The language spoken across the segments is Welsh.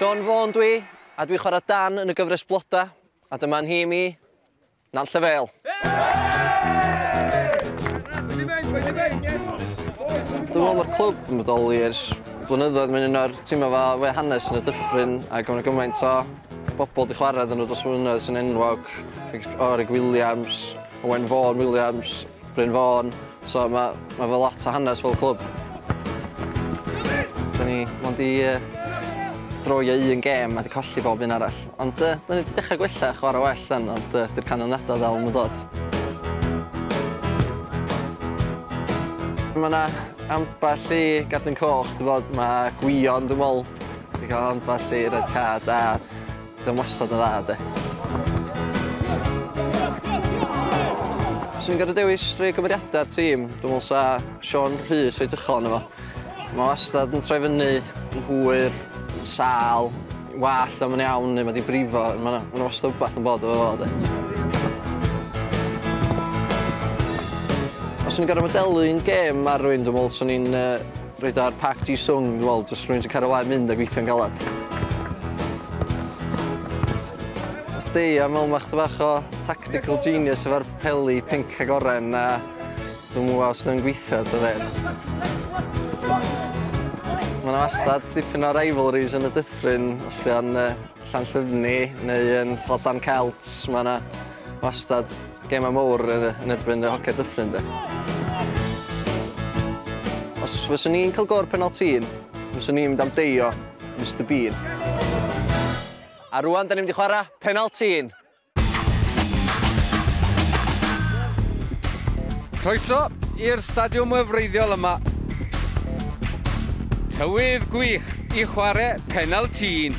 Siôn Fôn dwi, a dwi chwarae Dan yn y gyfres Bloda, a dyma nhîm i, Nant Llefel. Dwi'n meddwl mae'r clwb yn bodoli ers blynyddoedd. Mae'n un o'r tîmau fa we hanes yn y dyffryn ac mae'n gymaint o bobl di chwarae dyn nhw dros flynyddoedd sy'n enwog. Orig Williams, Owen Vaughan Williams, Bryn Vaughan, so mae ma fe lot o hanes fel clwb. Da ni mond i uh, droio un gêm a di colli bob un arall. Ond uh, da ni wedi dechrau gwella chwarae well yn, ond uh, dy'r canlyniadau ddal yn dod. Mae yna ambell i gadw'n coch, dwi'n bod, mae Gwion, dwi'n meddwl, wedi cael ambell i red card a Oedd o'n wastad yn dda, de. Os i'n gorfod dewis rhai cymeriadau'r tîm, dwi'n meddwl sa Sean Rhys reit uchel yn efo. Mae wastad yn troi fyny, yn hwyr, yn sal, wallt am yn iawn neu mae di brifo, mae yna wastad wbeth yn bod efo fo, de. Os i'n gorfod modelu un gêm ar rwy'n dwi'n meddwl swn i'n uh, Rhaid ar Park Ji Sung, wel, jyst rhywun sy'n cario mlaen mynd a gweithio'n galed. Dei, a mewn mach bach o tactical genius efo'r peli pink ag oren, a dwi'n mwyn os nhw'n gweithio, dy fe. Mae yna wastad dipyn o rivalries yn y dyffryn, os di o'n uh, Llanllyfni neu yn Tlosan Celts, mae yna wastad Gemau mawr yn erbyn y Hociad Dyffryn de. Os fyswn ni'n cael gôr penaltîn, fyswn ni'n mynd am deio Mister Bean. A rwan, da ni'n mynd i chwarae penaltîn. Croeso i'r stadiwm wefreiddiol yma. Tywydd gwych i chwarae penaltîn.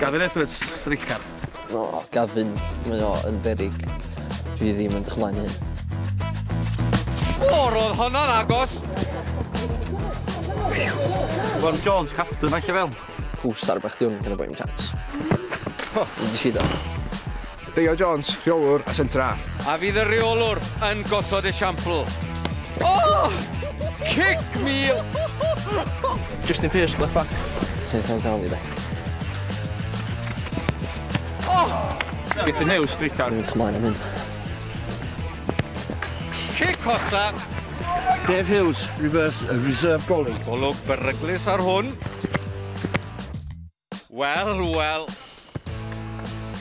Gavin Edwards, streicar. O, Gavin, mae o yn berig. Dwi ddim yn dychmygu hyn. O, roedd honno'n agos! Ron Jones, captain, falle fel. Pws ar bach diwn, gyda boi'n chance. O, dwi'n sido. Deio Jones, rheolwr a centre half. A fydd y rheolwr yn gosod esiampl? Oh! Cic mil! Justin Pearce, left back. Ti'n eitha gael i dde. Get the new streetcar. Dwi'n chymlaen am hyn. Cic hosa. Dave Hughes, reverse, uh, reserve goalie. Golwg beryglus ar hwn. Wel, wel.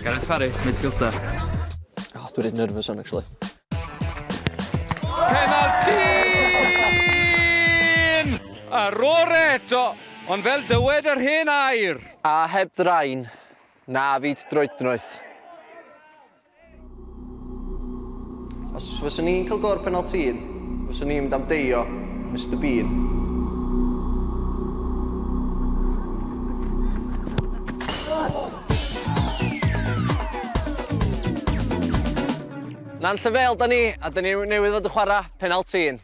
Gareth Parry, midfielder. Oh, dwi'n rhaid nervous on, actually. Penaltyn! Ar ôl eto, ond fel dywed yr hen air. A heb ddrain, na fyd droednoeth. Os fyswn ni'n cael gôr penalti un, fyswn ni'n mynd am deio Mr Bean. Na'n llyfel da ni, a da ni newydd fod yn chwarae penalti un.